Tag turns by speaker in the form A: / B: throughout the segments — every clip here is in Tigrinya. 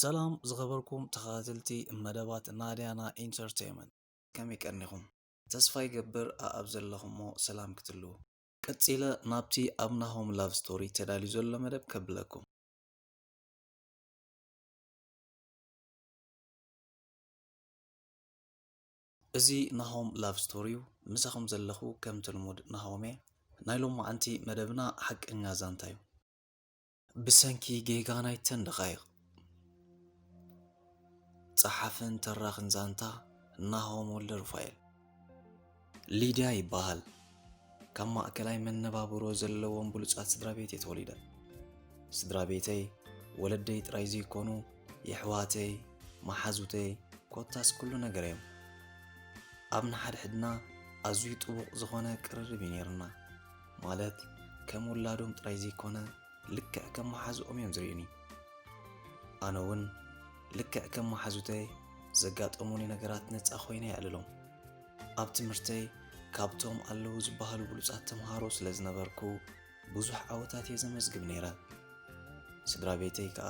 A: ሰላም ዝኸበርኩም ተኸታተልቲ መደባት ናድያና ኢንተርተይመንት ከመይ ቀኒኹም ተስፋ ይገብር ኣኣብ ዘለኹሞ ሰላም ክትልዉ ቀጺለ ናብቲ ኣብ ናሆም ላቭ ስቶሪ ተዳልዩ ዘሎ መደብ ከብለኩም እዚ ናሆም ላቭ ስቶሪ ዩ ምሳኹም ዘለኹ ከምቲ ልሙድ ናሆም እየ ናይ ሎማዓንቲ መደብና ሓቀኛ ዛንታ ዩ ብሰንኪ ጌጋ ናይተን ደቓይቕ ጸሓፍን ተራኽን ዛንታ ናሆም ወልደሩፋኤል ሊድያ ይበሃል ካብ ማእከላይ መነባብሮ ዘለዎም ብሉጻት ስድራ ቤት እየ ተወሊደ። ስድራ ቤተይ ወለደይ ጥራይ ዘይኮኑ የሕዋተይ፣ መሓዙተይ ኮታስ ኩሉ ነገር እዮም። ኣብ ንሓድሕድና ኣዝዩ ጥቡቕ ዝኾነ ቅርርብ እዩ ነይርና። ማለት ከም ውላዶም ጥራይ ዘይኮነ ልክዕ ከም መሓዝኦም እዮም ዝርእዩኒ። ኣነ እውን ልክዕ ከም መሓዙተይ ዘጋጠሙኒ ነገራት ነጻ ኮይነ የዕልሎም። ኣብ ትምህርተይ ካብቶም ኣለዉ ዝበሃሉ ብሉጻት ተምሃሮ ስለ ዝነበርኩ ብዙሕ ዓወታት እየ ዘመዝግብ ነይረ። ስድራ ቤተይ ከኣ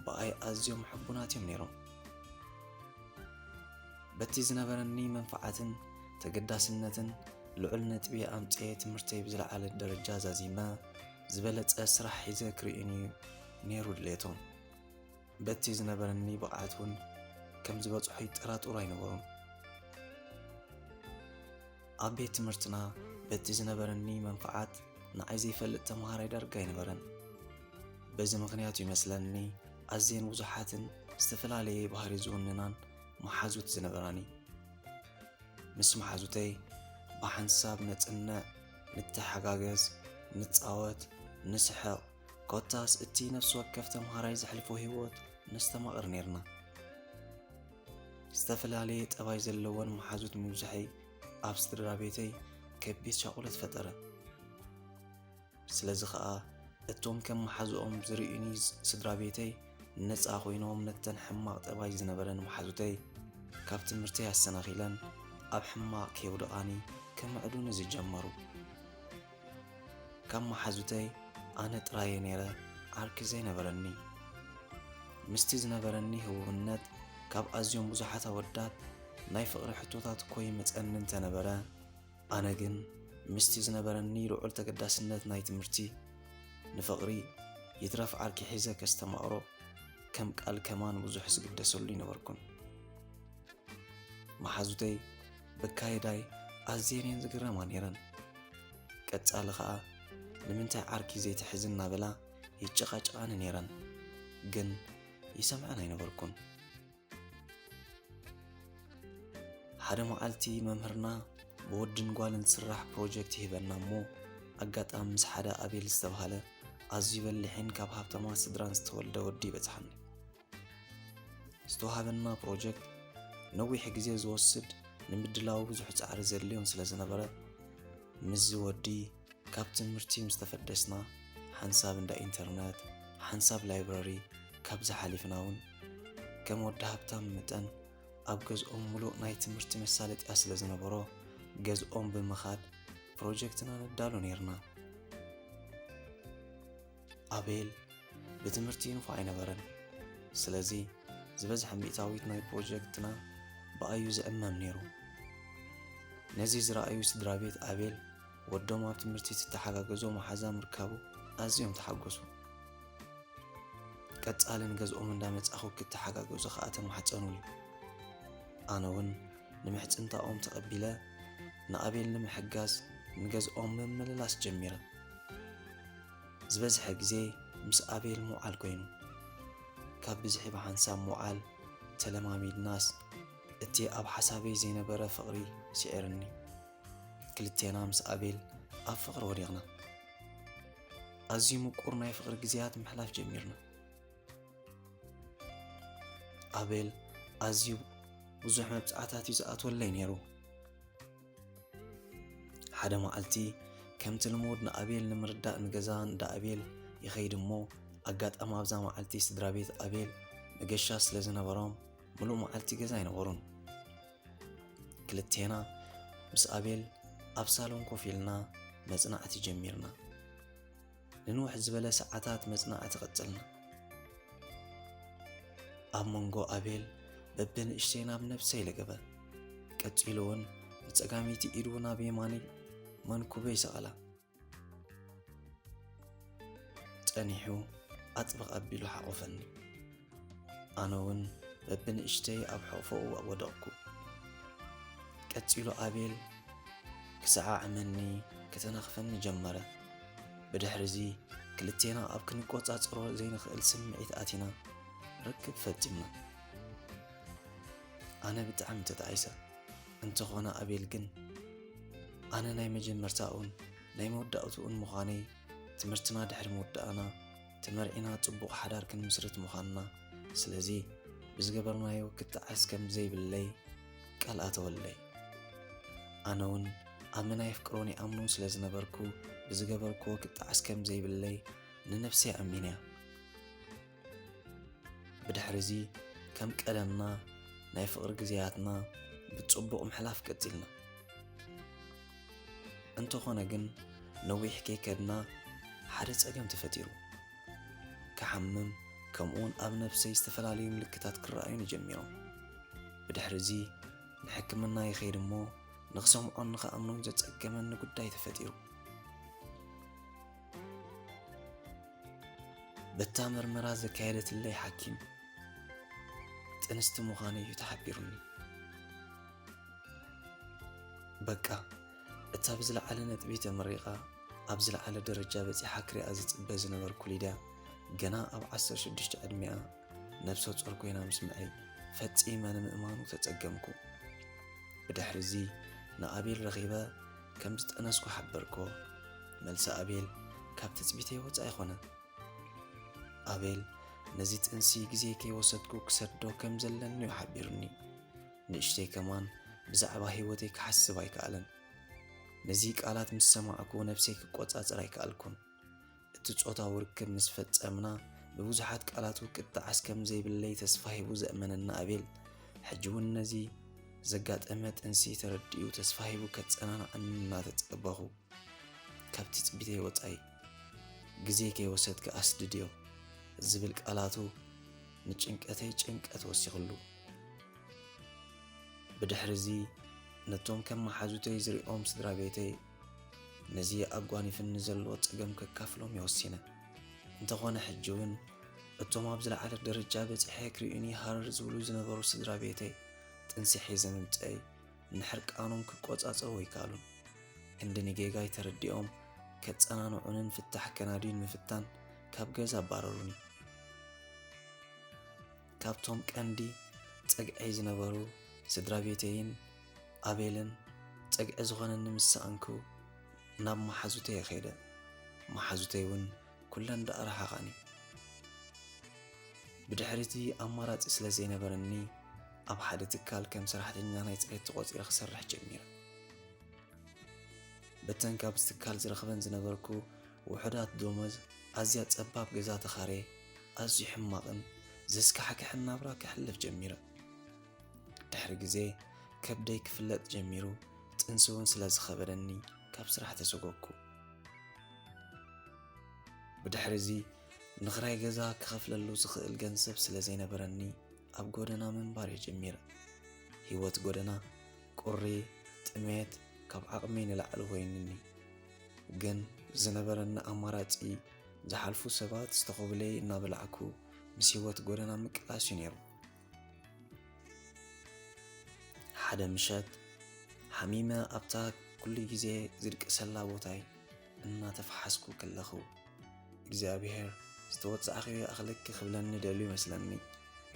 A: ብኣይ ኣዝዮም ሕቡናት እዮም ነይሮም። በቲ ዝነበረኒ መንፈዓትን ተገዳስነትን ልዑል ነጥቢ ኣምጽኤ ትምህርተይ ብዝለዓለ ደረጃ ዛዚመ ዝበለጸ ስራሕ ሒዘ ክርእዩኒ ነይሩ ድሌቶም። በቲ ዝነበረኒ ብቕዓት እውን ከም ዝበጽሖ ይጠራጠሩ ኣይነበሩን። ኣብ ቤት ትምህርትና በቲ ዝነበረኒ መንፍዓት ንዓይ ዘይፈልጥ ተምሃራይ ዳርጋ ኣይነበረን። በዚ ምኽንያቱ ይመስለኒ ኣዝየን ብዙሓትን ዝተፈላለየ ባህሪ ዝውንናን መሓዙት ዝነበራኒ ምስ መሓዙተይ ብሓንሳብ ነጽንዕ፣ ንተሓጋገዝ፣ ንጻወት፣ ንስሕቕ ኮታስ እቲ ነፍሲ ወከፍ ተምሃራይ ዘሕልፎ ህይወት ነስተማቕር ነይርና። ዝተፈላለየ ጠባይ ዘለወን መሓዙት ምብዛሐይ ኣብ ስድራ ቤተይ ከቢድ ሻቑለት ፈጠረ። ስለዚ ኸኣ እቶም ከም መሓዝኦም ዝርእዩኒ ስድራ ቤተይ ነፃ ኮይኖም ነተን ሕማቕ ጠባይ ዝነበረን መሓዙተይ ካብ ትምህርተይ ኣሰናኺለን ኣብ ሕማቕ ከየውደቓኒ ከመዕዱኒ ዝጀመሩ። ከም መሓዙተይ ኣነ ጥራየ ነይረ ዓርኪ ዘይነበረኒ። ምስቲ ዝነበረኒ ህቡብነት ካብ ኣዝዮም ብዙሓት ኣወዳት ናይ ፍቕሪ ሕቶታት እኮ ይመጸኒ እንተነበረ፣ ኣነ ግን ምስቲ ዝነበረኒ ልዑል ተገዳስነት ናይ ትምህርቲ፣ ንፍቕሪ ይትረፍ ዓርኪ ሒዘ ከስተማቕሮ ከም ቃል ከማን ብዙሕ ዝግደሰሉ ኣይነበርኩን። መሓዙተይ በካይዳይ ኣዝየን እየን ዝግረማ ነይረን። ቀጻሊ ከኣ ንምንታይ ዓርኪ ዘይትሕዚ እናበላ ይጨቓጨቓኒ ነይረን። ግን ይሰምዐን ኣይነበርኩን። ሓደ መዓልቲ መምህርና ብወድን ጓልን ዝስራሕ ፕሮጀክት ይህበና እሞ ኣጋጣሚ ምስ ሓደ ኣቤል ዝተብሃለ ኣዝዩ በሊሕን ካብ ሃብታማት ስድራን ዝተወልደ ወዲ ይበጽሓኒ። ዝተዋሃበና ፕሮጀክት ነዊሕ ግዜ ዝወስድ ንምድላው ብዙሕ ጻዕሪ ዘድልዮን ስለ ዝነበረ ምስዚ ወዲ ካብ ትምህርቲ ምስ ተፈደስና ሓንሳብ እንዳ ኢንተርነት ሓንሳብ ላይብረሪ ካብዚ ሓሊፍና እውን ከም ወዲ ሃብታም መጠን ኣብ ገዝኦም ሙሉእ ናይ ትምህርቲ መሳለጥያ ስለ ዝነበሮ ገዝኦም ብምኻድ ፕሮጀክትና ነዳሉ ነይርና። ኣቤል ብትምህርቲ ይንፎ ኣይነበረን። ስለዚ ዝበዝሐ ሚእታዊት ናይ ፕሮጀክትና ብኣዩ ዝዕመም ነይሩ። ነዚ ዝረኣዩ ስድራ ቤት ኣቤል ወዶም ኣብ ትምህርቲ ትተሓጋገዞ መሓዛ ምርካቡ ኣዝዮም ተሓጎሱ። ቀጻሊ ንገዝኦም እንዳመጻኹ ክተሓጋገዙ ከኣ ተማሕጸኑኒ። ኣነ እውን ንምሕጽንታኦም ተቐቢለ ንኣቤል ንምሕጋዝ ንገዝኦም ምምልላስ ጀሚረ። ዝበዝሐ ግዜ ምስ ኣቤል ምውዓል ኮይኑ ካብ ብዝሒ ብሓንሳብ ምውዓል ተለማሚድናስ እቲ ኣብ ሓሳበይ ዘይነበረ ፍቕሪ ስዒርኒ ክልቴና ምስ ኣቤል ኣብ ፍቕሪ ወዲቕና ኣዝዩ ምቁር ናይ ፍቕሪ ግዜያት ምሕላፍ ጀሚርና ኣቤል ኣዝዩ ብዙሕ መብፅዓታት እዩ ዝኣትወለይ ነይሩ ሓደ መዓልቲ ከምቲ ልሙድ ንኣቤል ንምርዳእ ንገዛ እንዳ ኣቤል ይኸይድ እሞ ኣጋጣሚ ኣብዛ መዓልቲ ስድራ ቤት ኣቤል መገሻ ስለ ዝነበሮም ምሉእ መዓልቲ ገዛ ኣይነበሩን ክልቴና ምስ ኣቤል ኣብ ሳሎን ኮፍ ኢልና መጽናዕቲ ጀሚርና ንንውሕ ዝበለ ሰዓታት መጽናዕቲ ቀጽልና። ኣብ መንጎ ኣቤል በብንእሽተይ ናብ ነብሰይ ለገበ ቀጺሉ እውን ብጸጋሚቲ ኢዱ ናብ የማኒ መንኩበይ ሰቐላ ጸኒሑ ኣጥብቕ ኣቢሉ ሓቖፈኒ ኣነውን በብንእሽተይ ኣብ ሕቕፎኡ ወደቕኩ። ቀጺሉ ኣቤል ክሰዓዕመኒ ክተናኽፈኒ ጀመረ። ብድሕሪዚ ክልቴና ኣብ ክንቆጻጸሮ ዘይንኽእል ስምዒት ኣቲና ርክብ ፈጺምና። ኣነ ብጣዕሚ ተጣዒሰ እንተኾነ ኣቤል ግን ኣነ ናይ መጀመርታኡን ናይ መወዳእትኡን ምዃነይ ትምህርትና ድሕሪ ምውዳእና ተመርዒና ጽቡቕ ሓዳር ክንምስርት ምዃንና፣ ስለዚ ብዝገበርናዮ ክተዓስ ከም ዘይብለይ ቃል ኣተወለይ። ኣነ ውን ኣመና የፍቅሮን ይኣምኖን ስለ ዝነበርኩ ብዝገበርክዎ ክጠዓስ ከም ዘይብለይ ንነብሰይ ኣሚነያ። ብድሕሪዚ ከም ቀደምና ናይ ፍቕሪ ግዜያትና ብጽቡቕ ምሕላፍ ቀጺልና። እንተኾነ ግን ነዊሕ ከይከድና ሓደ ጸገም ተፈጢሩ። ክሓምም ከምኡውን ኣብ ነብሰይ ዝተፈላለዩ ምልክታት ክረኣዩኒ ጀሚሮም። ብድሕሪ እዚ ንሕክምና ይኸይድ እሞ ንኽሰምዖን ንኽኣምኖን ዘጸገመኒ ጉዳይ ተፈጢሩ። በታ ምርመራ ዘካየደትለይ ሓኪም ጥንስቲ ምዃነይ እዩ ተሓቢሩኒ። በቃ እታ ብዝለዓለ ነጥቢ ተመሪቓ ኣብ ዝለዓለ ደረጃ በፂሓ ክሪኣ ዝፅበ ዝነበርኩ ሊድያ ገና ኣብ 16 ዕድሚኣ ነብሰ ጾር ኮይና ምስ ምዐይ ፈፂመ ንምእማኑ ተፀገምኩ ብድሕሪ እዚ ንኣቤል ረኺበ ከም ዝጠነስኩ ሓበርኮ መልሲ ኣቤል ካብ ትፅቢተይ ወፃ ኣይኮነ ኣቤል ነዚ ጥንሲ ግዜ ከይወሰድኩ ክሰዶ ከም ዘለኒ ሓቢሩኒ ንእሽተይ ከማን ብዛዕባ ህይወተይ ክሓስብ ኣይከኣለን። ነዚ ቃላት ምስ ሰማዕኩ ነብሰይ ክቆጻጸር ኣይከኣልኩን። እቲ ጾታዊ ርክብ ምስ ፈጸምና ብብዙሓት ቃላቱ ክጣዓስ ከም ዘይብለይ ተስፋ ሂቡ ዘእመነና ኣቤል ሕጂ እውን ነዚ ዘጋጠመ ጥንሲ ተረዲኡ ተስፋ ሂቡ ከጸናንዓኒ እናተጸበኹ ካብቲ ጽቢተይ ወጻኢ ግዜ ከይወሰድካ ኣስድድዮ ዝብል ቃላቱ ንጭንቀተይ ጭንቀት ወሲኽሉ። ብድሕርዚ ነቶም ከም መሓዙተይ ዝሪኦም ስድራ ቤተይ ነዚ ኣጓኒፍኒ ዘሎ ጸገም ከካፍሎም እየ ወሲነ። እንተኾነ ሕጂ እውን እቶም ኣብ ዝለዓለ ደረጃ በጺሐ ክርእዩኒ ሃረር ዝብሉ ዝነበሩ ስድራ ቤተይ ጥንሲ ሒዘ ምምጸይ ንሕርቃኖም ክቆጻጸሩ ኣይከኣሉን። ክንዲ ንጌጋይ ተረዲኦም ከጸናንዑንን ፍታሕ ከናድዩን ምፍታን ካብ ገዛ ኣባረሩኒ። ካብቶም ቀንዲ ጸግዐይ ዝነበሩ ስድራቤተይን ኣቤልን ጸግዒ ዝኾነኒ ምስ ሰኣንኩ ናብ መሓዙተየ ከይደ። መሓዙተይ እውን ኩለን ደኣ ረሓቓኒ። ብድሕሪቲ ኣማራጺ ስለ ዘይነበረኒ ኣብ ሓደ ትካል ከም ሰራሕተኛ ናይ ጽሬት ተቖጺረ ክሰርሕ ጀሚረ። በተን ካብዚ ትካል ዝረኽበን ዝነበርኩ ውሑዳት ደሞዝ ኣዝያ ጸባብ ገዛ ተኻርየ። ኣዝዩ ሕማቕን ዘስካሕክሕን ናብራ ከሕልፍ ጀሚረ። ድሕሪ ግዜ ከብደይ ክፍለጥ ጀሚሩ፣ ጥንሲ እውን ስለ ዝኸበደኒ ካብ ስራሕ ተሰጎግኩ። ብድሕሪ እዚ ንኽራይ ገዛ ክኸፍለሉ ዝኽእል ገንዘብ ስለ ዘይነበረኒ ኣብ ጎደና ምንባር እየ ጀሚረ። ህይወት ጎደና ቁሪ፣ ጥሜት ካብ ዓቕመይ ንላዕሊ ኮይኑኒ። ግን ዝነበረኒ ኣማራጺ ዝሓልፉ ሰባት ዝተኾብለይ እናበላዕኩ ምስ ህይወት ጎደና ምቅላስ እዩ ነይሩ። ሓደ ምሸት ሓሚመ ኣብታ ኩሉ ግዜ ዝድቅሰላ ቦታይ እናተፈሓስኩ ከለኹ እግዚኣብሄር ዝተወጻእኺዮ ኣኽለኪ ክብለኒ ደልዩ ይመስለኒ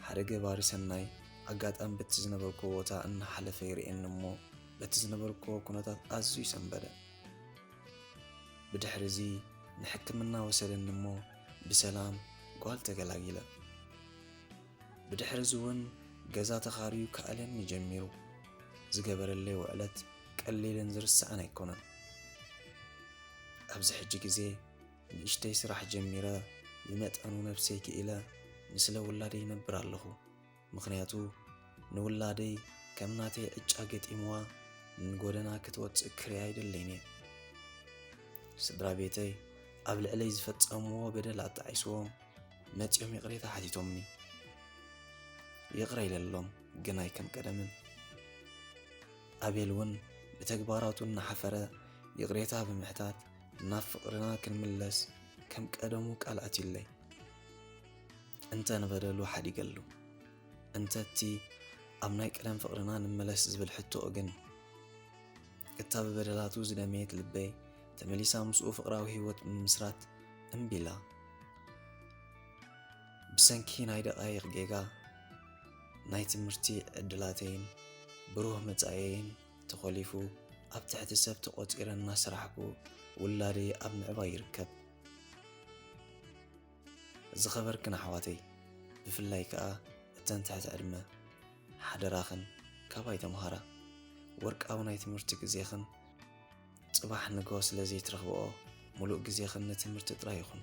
A: ሓደ ገባሪ ሰናይ ኣጋጣሚ በቲ ዝነበርኩዎ ቦታ እናሓለፈ ይርእየኒ እሞ በቲ ዝነበርኩዎ ኩነታት ኣዝዩ ሰንበደ። ብድሕሪዚ ንሕክምና ወሰደኒ እሞ ብሰላም ጓል ተገላጊለ። ብድሕሪዚ እውን ገዛ ተኻርዩ ክኣልየኒ ጀሚሩ። ዝገበረለይ ውዕለት ቀሊልን ዝርሳዕን ኣይኮነን። ኣብዚ ሕጂ ግዜ ንእሽተይ ስራሕ ጀሚረ ብመጠኑ ነብሰይ ክኢለ ንስለ ውላደይ ይነብር ኣለኹ። ምኽንያቱ ንውላደይ ከም ናተይ ዕጫ ገጢምዋ ንጎደና ክትወፅእ ክሪኣ ኣይደለይን እየ። ስድራ ቤተይ ኣብ ልዕለይ ዝፈፀምዎ በደል ኣጣዒስዎም መፂኦም ይቕሬታ ሓቲቶምኒ። ይቕረ ኢለሎም ግን ኣይከም ቀደምን። ኣቤል እውን ብተግባራቱ እናሓፈረ ይቕሬታ ብምሕታት ናብ ፍቕርና ክንምለስ ከም ቀደሙ ቃል ኣትዩለይ። እንተ ንበደሉ ሓዲገሉ እንተቲ ኣብ ናይ ቀደም ፍቕርና ንመለስ ዝብል ሕቶኡ ግን እታ ብበደላቱ ዝደመየት ልበይ ተመሊሳ ምስኡ ፍቕራዊ ህይወት ምምስራት እምቢላ ብሰንኪ ናይ ደቓይቕ ጌጋ ናይ ትምህርቲ ዕድላተይን ብሩህ መጻኢየይን ተኾሊፉ ኣብ ትሕቲ ሰብ ተቖፂረ እናሰራሕኩ ውላደይ ኣብ ምዕባይ ይርከብ ዝኸበርክን ኣሕዋተይ ብፍላይ ከኣ እተን ትሕቲ ዕድመ ሓደራኽን ካባይ ተምሃራ ወርቃዊ ናይ ትምህርቲ ግዜኽን ጽባሕ ንግሆ ስለ ዘይትረኽብኦ ሙሉእ ግዜኽን ንትምህርቲ ጥራይ ይኹን።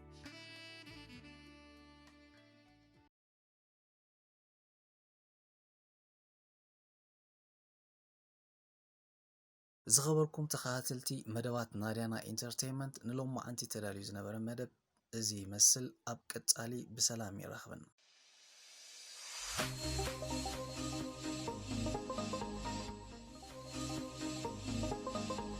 A: ዝኸበርኩም ተኸታተልቲ መደባት ናድያና ኢንተርቴይመንት ንሎማዓንቲ ተዳልዩ ዝነበረ መደብ እዚ ይመስል ኣብ ቀጻሊ ብሰላም የራኽበና